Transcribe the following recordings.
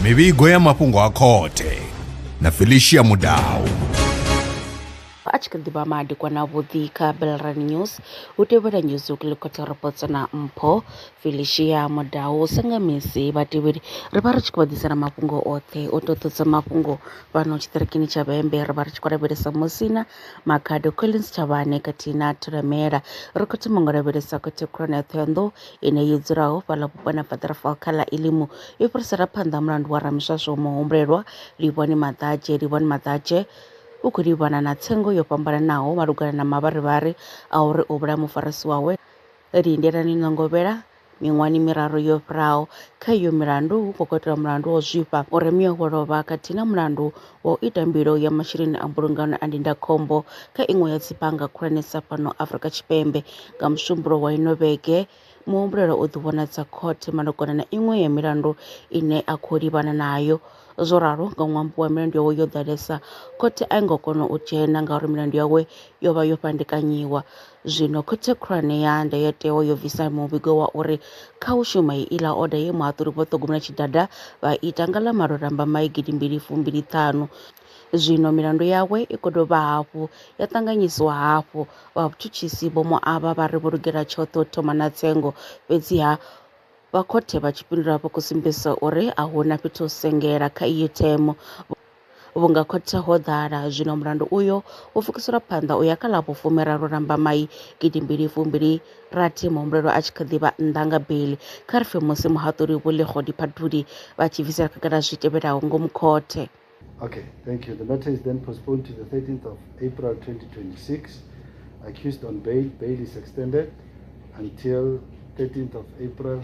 mivhigo ya mafhungo a khothe na felicia mudau a tshi kha ḓivha madekwana avhuḓi kha belran news hu tevhela news uklikota reports na mpho felicia mudau sa nga misi vhatevheli ri vha ri tshi khou vha ḓisela mafhungo oṱhe o toṱodza mafhungo fhano tshiṱirikini tsha vhembe ri vha ri tshi khou lavhelesa musina makhado collins tshavhane khathihi na thulamela ri khou thoma ngo lavhelesa khothe khulwane ya thohoyanḓou ine yo dzulaho fhaḽa vhuponi ha faḓarafal kha ḽa elimu i fhirisela phanḓa mulandu wa ramishasho muhumbulelwa livhoni maḓadzhe livhoni maḓadzhe u khou livhana na tsengo yo fhambananaho malugana na mavharivhari a uri u vhulaya mufarisi wawe lindelani nga ngovhela miṅwahani miraru yo fhiraho. Kha iyo milandu hu khou katelwa mulandu wa u zwifha, u remiwa wo lovha khathihi na mulandu wa u ita mbilo ya masheleni a mbulungano a ndindakhombo kha iṅwe ya dzibannga khulwanesa fhano Afrika Tshipembe. Nga Musumbulowo wa ino vhege, muhumbulelwa u ḓivhonadza khothe malugana na iṅwe ya milandu ine a khou livhana nayo. Zwo ralo, nga ṅwambo wa milandu yawe yo ḓalesa, khothe a i ngo kona u dzhena ngauri milandu yawe yo vha yo fhandekanyiwa. Zwino Khothe Khulwane ya Ndayotewa yo bvisa muvhigo wa uri kha u shuma heiḽa oda ye muhaṱuli Vho Ṱhogomela Tshidada vha ita nga ḽa malo Lambamai gidimbili fumbili ṱhanu. Zwino milandu yawe i khou dovha hafhu ya ṱanganyisiwa hafhu. Vha vhutshutshisi vho mu avha vha ri vho lugela tshoṱhe u thoma na tsengo, fhedziha vha khothe vha tshipindula vha khou sumbedzisa uri a hu na fhethu ho sengela kha iyo themo. Vhunga khothe ho ḓala, zwino mulandu uyo wo pfukiselwa phanḓa u ya kha ḽa vhufumiraru Lambamai 2026 muhumbulelwa a tshi kha ḓi vha nnḓa nga beiḽi kha ri pfi musi muhaṱuli Vho Lekgodi Phathuli vha tshi bvisela khagala zwi tevhelaho ngomu khothe. Okay, thank you. The matter is then postponed to the 13th of April 2026. Accused on bail, bail is extended until 13th of April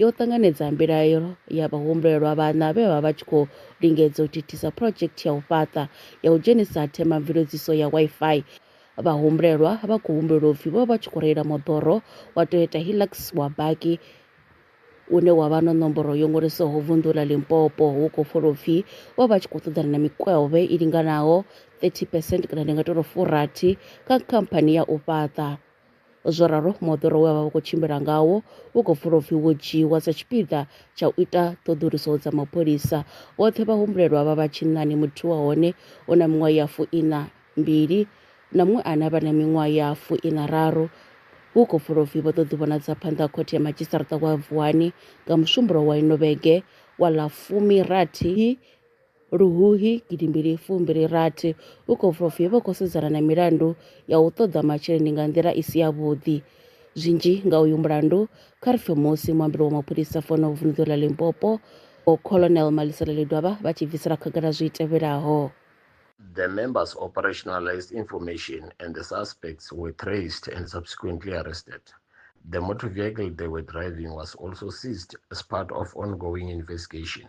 yo ṱanganedza mbilaelo ya vhahumbulelwa vhaṋa vhe vha vha vha tshi khou lingedza u thithisa phurodzhekthi ya u fhaṱa ya u dzhenisa themamveledziso ya Wi-Fi. Vhahumbulelwa vha khou humbulelwa upfi vho vha vha tshi khou reila moḓoro wa Toyota Hilux wa baki une wa vha na nomboro yo ṅwaliswaho vunḓu ḽa Limpopo hu khou folwa upfi vho vha tshi khou ṱoḓana na mikwevhe i linganaho 30 percent kana ndi nga tou ri furathi kha khamphani ya u fhaṱa Zwo ralo, moḓoro we vha vha khou tshimbila ngawo wo khou pfulwa upfi wo dzhiiwa sa tshipiḓa tsha u ita ṱhoḓuluso dza mapholisa. Vhoṱhe vhahumbulelwa vha vha tshinnani, muthihi wa hone u na miṅwaha ya fuiṋa mbili na muṅwe ane a vha na miṅwaha ya fuiṋa raru. Hu khou pfulwa upfi vho ḓo ḓivhonadza phanḓa ha khothe ya madzhisiṱaraṱa wa Vuwani nga Musumbulowo wa ino vhege wa ḽa fumi rathi. Luhuhi gidi mbili fu mbili rathi u khou bva u pfi vho khou sedzana na milandu ya u ṱoḓa masheleni nga nḓila i si yavhuḓi. Zwinzhi nga uyu mulandu kha ri pfe musi muambeli wa mapholisa fano vunḓu ḽa Limpopo Vho Colonel Malisela Ledwaba vha tshi bvisela khagala zwi tevhelaho. The members operationalized information and the suspects were traced and subsequently arrested. The motor vehicle they were driving was also seized as part of ongoing investigation.